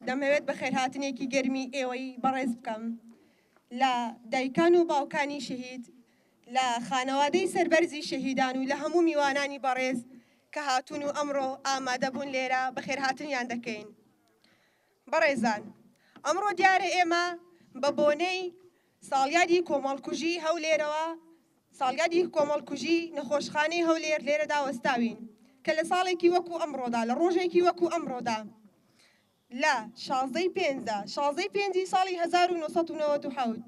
دەمەوێت بەخێرهاتنێکی گەرمی ئێوەی بەڕێز بکەم لە دایکان و باوکانی شەهید لە خانەوادەی سەربەرزی شەهیدان و لە هەموو میوانانی بەڕێز کە هاتون و ئەمڕۆ ئامادەبوون لێرە بەخێرهاتنیان دەکەین. بەڕێزان ئەمڕۆ دیارە ئێمە بە بۆنەی ساڵیادی کۆمەڵکوژی هەولێرەوە ساڵیادی کۆمەڵکوژی نەخۆشخانەی هەولێر لێرەدا وەستاوین کە لە ساڵێکی وەکو ئەمڕۆدا لە ڕۆژێکی وەکو ئەمڕۆدا لە شازدەی پێنجدا شازدەی پێنجی ساڵی 1990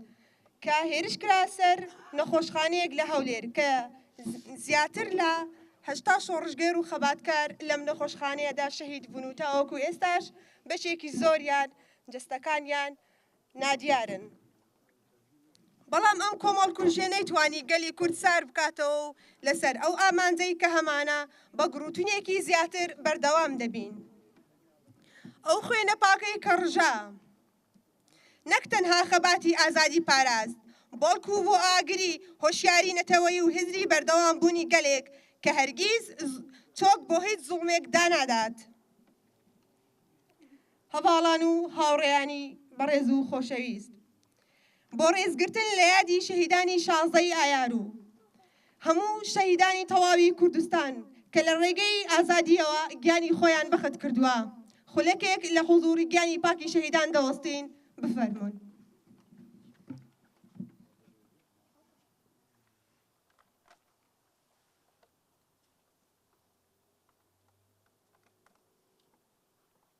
کە هێرش کرا سەر نەخۆشخانەیەک لە هەولێر کە زیاتر لە هەشتا شۆڕشگێر و خەباتکار لەم نەخۆشخانەیەدا شەهید بوون و تاوەکو ئێستاش بەشێکی زۆریان جستەکانیان نادیارن. بەڵام ئەم کۆمەڵکوژیە نەیتوانی گەلی کورد سار بکاتەوە و لەسەر ئەو ئامانجەی کە هەمانە بە گڕوتونێکی زیاتر بەردەوام دەبین. ئەو خوێنە پاکەی کە ڕژا نەک تەنها خەباتی ئازادی پاراست، بەڵکو بۆ ئاگری هۆشیاری نەتەوەیی و هزری بەردەوام بوونی گەلێک کە هەرگیز چۆک بۆ هیچ زوڵمێک دانادات. هەڤاڵان و هاوڕێیانی بەڕێز و خۆشەویست. بۆ ڕێزگرتن لە یادی شەهیدانی شازدە ی ئایار و هەموو شەهیدانی تەواوی کوردستان کە لە ڕێگەی ئازادییەوە گیانی خۆیان بەخت کردووە خولەکێک لە حوزووری گیانی پاکی شەهیدان دەوەستین بفەرموون.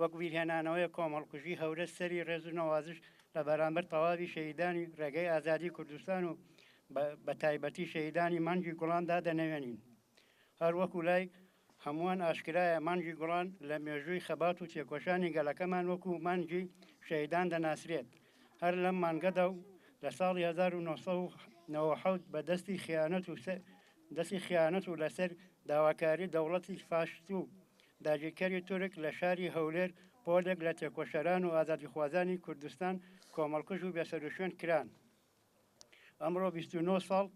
وەک بیرهێنانەوەیەک کۆمەڵکوژی هەورەز سەری ڕێز و نەوازش لە بەرامبەر تەواوی شەهیدانی ڕێگەی ئازادی کوردستان و بە تایبەتی شەهیدانی مانگی گوڵان دادەنەوێنین هەر وەکو لای هەمووان ئاشکرایە مانگی گوڵان لە مێژووی خەبات و تێکۆشانی گەلەکەمان وەکو مانگی شەهیدان دەناسرێت هەر لەم مانگەدا و لە ساڵی 1997 بە دەستی خیانەت و دەستی خیانەت و لەسەر داواکاری دەوڵەتی فاشست و داگیرکەری تورک لە شاری هەولێر پۆلێک لە تێکۆشەران و ئازادیخوازانی کوردستان کۆمەڵکوژ و بێسەروشوێن کران. ئەمڕۆ بیست و نۆ ساڵ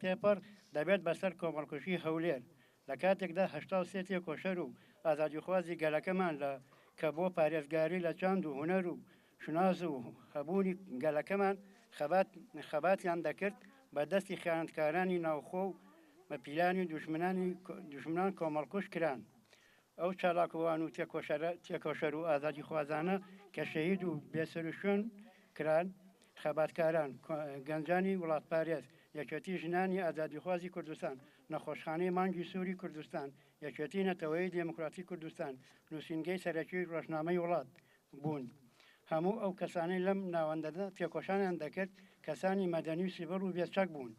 تێپەڕ دەبێت بەسەر کۆمەڵکوژی هەولێر، لە کاتێکدا هەشتا و سێ تێکۆشەر و ئازادیخوازی گەلەکەمان لە کە بۆ پارێزگاری لە چاند و هونەر و شوناس و هەبوونی گەلەکەمان خەبات خەباتیان دەکرد بە دەستی خیانەتکارانی ناوخۆ و بە پیلانی دوژمنانی دوژمنان کۆمەڵکوژ کران ئەو چالاکوان و تێکۆشەرە تێکۆشەر و ئازادی خوازانە کە شەهید و بێسەروشوێن کران خەباتکاران گەنجانی وڵاتپارێز یەکێتی ژنانی ئازادیخوازی کوردستان نەخۆشخانەی مانگی سووری کوردستان یەکێتی نەتەوەی دێموکراتی کوردستان نووسینگەی سەرەکی ڕۆژنامەی وڵات بوون. هەموو ئەو کەسانەی لەم ناوەندەدا تێکۆشانیان دەکرد کەسانی مەدەنی و سیڤڵ و بێچەک بوون.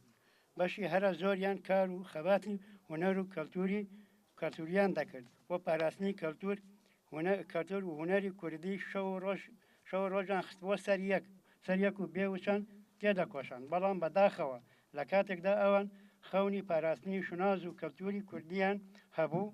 بەشی هەرە زۆریان کار و خەباتی هونەر و کەلتووری کەلتووریان دەکرد بۆ پاراستنی کەلتوور کەلتوور و هونەری کوردی شەو و ڕۆژ شەو و ڕۆژیان خستبووە سەر یەک سەر یەک و بێ وچان تێدەکۆشان بەڵام بە داخەوە لە کاتێکدا ئەوان خەونی پاراستنی شوناز و کەلتووری کوردییان هەبوو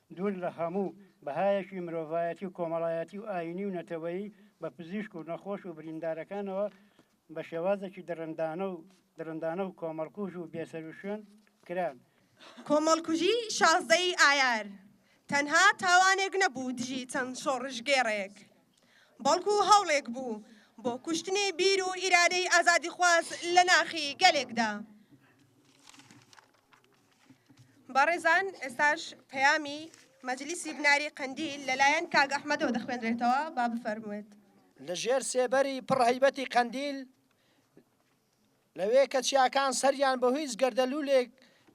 دوور لە هەموو بەهایەکی مرۆڤایەتی و کۆمەڵایەتی و ئایینی و نەتەوەیی، بە پزیشک و نەخۆش و بریندارەکانەوە بە شێوازێکی دڕندانە و دڕندانە و کۆمەڵکوژ و بێسەروشوێن کران. کۆمەڵکوژی شازدە ی ئایار تەنها تاوانێک نەبوو دژی چەند شۆڕشگێڕێک، بەڵکو هەوڵێک بوو بۆ کوشتنی بیر و ئیرادەی ئازادیخواز لە ناخی گەلێکدا. بەڕێزان ئێستاش پەیامی مەجلیسی بناری قەندیل لەلایەن کاک ئەحمەدەوە دەخوێنرێتەوە با بفەرموێت. لە ژێر سێبەری پڕ هەیبەتی قەندیل لەوێ کە چیاکان سەریان بە هیچ گەردەلوولێک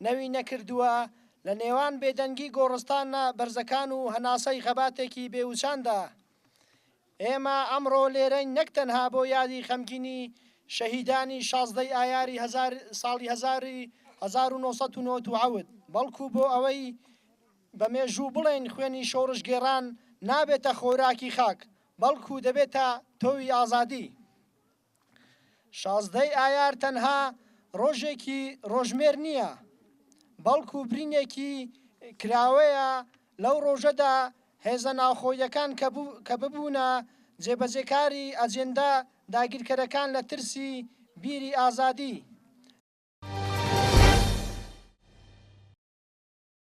نەوی نەکردووە لە نێوان بێدەنگی گۆڕستانە بەرزەکان و هەناسەی خەباتێکی بێوچاندا، ئێمە ئەمڕۆ لێرەین نەک تەنها بۆ یادی خەمگینی شەهیدانی شازدە ی ئایاری هەزار ساڵی هەزار ی هەزار و نۆ سەد و نەوەد و حەوت بەڵکو بۆ ئەوەی بە مێژوو بڵێین خوێنی شۆڕشگێڕان نابێتە خۆراکی خاک بەڵکو دەبێتە تۆوی ئازادی. شازدە ی ئایار تەنها ڕۆژێکی ڕۆژمێر نییە، بەڵکو برینێکی کراوەیە لەو ڕۆژەدا هێزە ناوخۆییەکان کە ببوونە جێبەجێکاری ئەجێندا داگیرکەرەکان لە ترسی بیری ئازادی،